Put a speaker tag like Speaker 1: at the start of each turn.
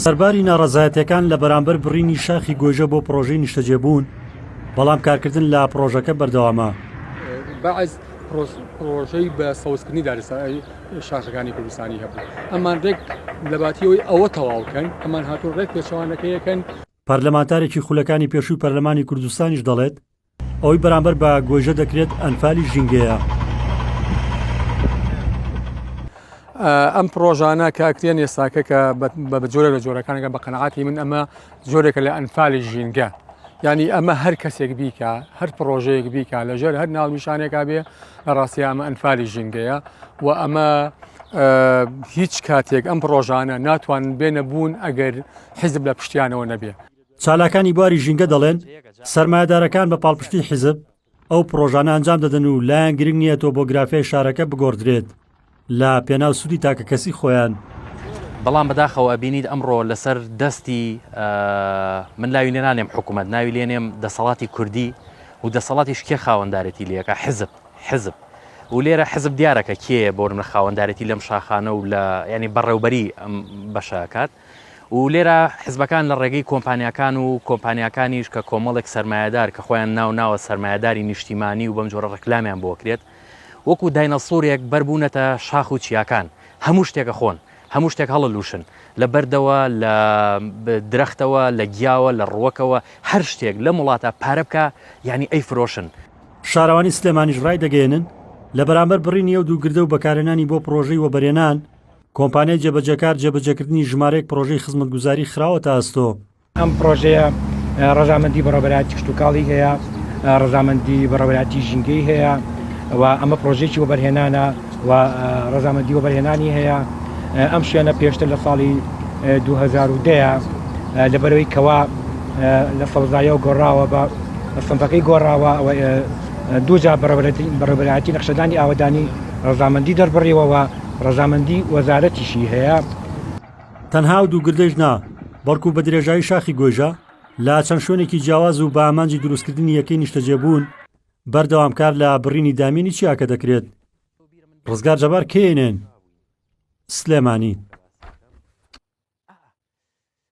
Speaker 1: سەرباری ناڕەزایەتیەکان لە بەرامبەر بڕینی شاخی گۆیژە بۆ پڕۆژەی نیشتەجێبوون بەڵام کارکردن لە پڕۆژەکە بەردەوامە بەعز
Speaker 2: پرۆژەی بە سەوزکردنی دارستانی شاخەکانی کوردستانی هەبوو ئەمان ڕێک لەباتیەوەی ئەوە تەواوکەن ئەمان هاتوو ڕێک پێچوانەکەیەکەن پەرلەمانتارێکی
Speaker 1: خولەکانی پێشووی پەرلەمانی کوردستانیش دەڵێت ئەوەی بەرامبەر بە گۆیژە دەکرێت ئەنفالی ژینگەیە.
Speaker 2: ئەم پرۆژانە کە ئەکرێن ئێستاکە کە بە جۆرە لە جۆرەکانەکە بە قەنەعاتی من ئەمە جۆرێکە لە ئەنفالی ژینگە ینی ئەمە هەر کەسێک بیکە هەر پرۆژەیەک بیکە لەژێر هەر ناونیشانێکا بێ لە ڕاستی ئەمە ئەنفالی ژینگەیە و ئەمە هیچ کاتێک ئەم پرۆژانە ناتوان بێنە بوون ئەگەر حیزب لە پشتیانەوە نەبێ چالاکانی بواری
Speaker 1: ژینگە دەڵێن، سەرمایەدارەکان بە پاڵپشتی حیزب ئەو پرۆژانە ئەنجام دەدەن و لایان گرنگ نییە تۆبۆگرافیای شارەکە بگۆڕدرێت لە پێناو سوودی تاکەکەسی خۆیان. بەڵام
Speaker 3: بەداخەوە ئەبینیت ئەمڕۆ لەسەر دەستی، من ناوی لێنانێم حکومەت، ناوی لێنێم دەسەڵاتی کوردی و دەسەڵاتیش کێ خاوەندارێتی لێکە؟ حیزب، حیزب. و لێرە حیزب دیارە کە کێیە بۆ نمونە خاوەندارێتی لەم شاخانە و لە یانی بەڕێوبەری ئەم بەشە ئەکات. و لێرە حزبەکان لە ڕێگەی کۆمپانیاکان و کۆمپانیاکانیش کە کۆمەڵێک سەرمایەدار کە خۆیان ناو ناوە سەرمایەداری نیشتیمانی و بەم جۆرە ڕکلامیان بۆ کرێت وەکو داینەسورێک بەربوونەتە شاخ و چیاکان هەموو شتێکە خۆن هەموو شتێک هەڵە لوشن لە بەردەوە لە درەختەوە لە گیاوە لە ڕوەکەوە هەر شتێک لە وڵاتە پارە بکە یعنی ئەی فرۆشن. شارەوانی
Speaker 1: سلێمانیش ڕایدەگەیەنن، لە بەرامبەر بڕینی ئەو دوو گردە و بەکارهێنانی بۆ پڕۆژەی وەبەرێنان، کۆمپانیای جێبەجێکار جێبەجێکردنی ژمارەیەک پڕۆژەی خزمەتگوزاری خراوەتە ئەستۆ. ئەم پڕۆژەیە
Speaker 4: ڕەزامەندی بەڕێوەبەرایەتی کشتوکاڵی هەیە، ڕەزامەندی بەڕێوەبەرایەتی ژینگەی هەیە و ئەمە پڕۆژەیەکی وەبەرهێنانە و ڕەزامەندی وەبەرهێنانی هەیە. ئەم شوێنە پێشتر لە ساڵی دوو هەزار و دە لەبەرەوەی کەوا لە سەوزاییەوە گۆڕاوە بە سنفەکەی گۆڕاوە و دووجار بەڕێوەبەرایەتی نەخشەدانی ئاوەدانی ڕەزامەندی دەربڕیوە و ڕەزامەندی وەزارەتیشی هەیە. تەنها
Speaker 1: ئەو دوو گردەیش نا، بەڵکو بە درێژایی شاخی گۆیژە، لە چەند شوێنێکی جیاواز و بە ئامانجی دروستکردنی یەکەی نیشتەجێبوون، بەردەوام کار لە بڕینی دامێنی چیاکە دەکرێت. ڕزگار جەبار کەیەنێن، سلێمانی.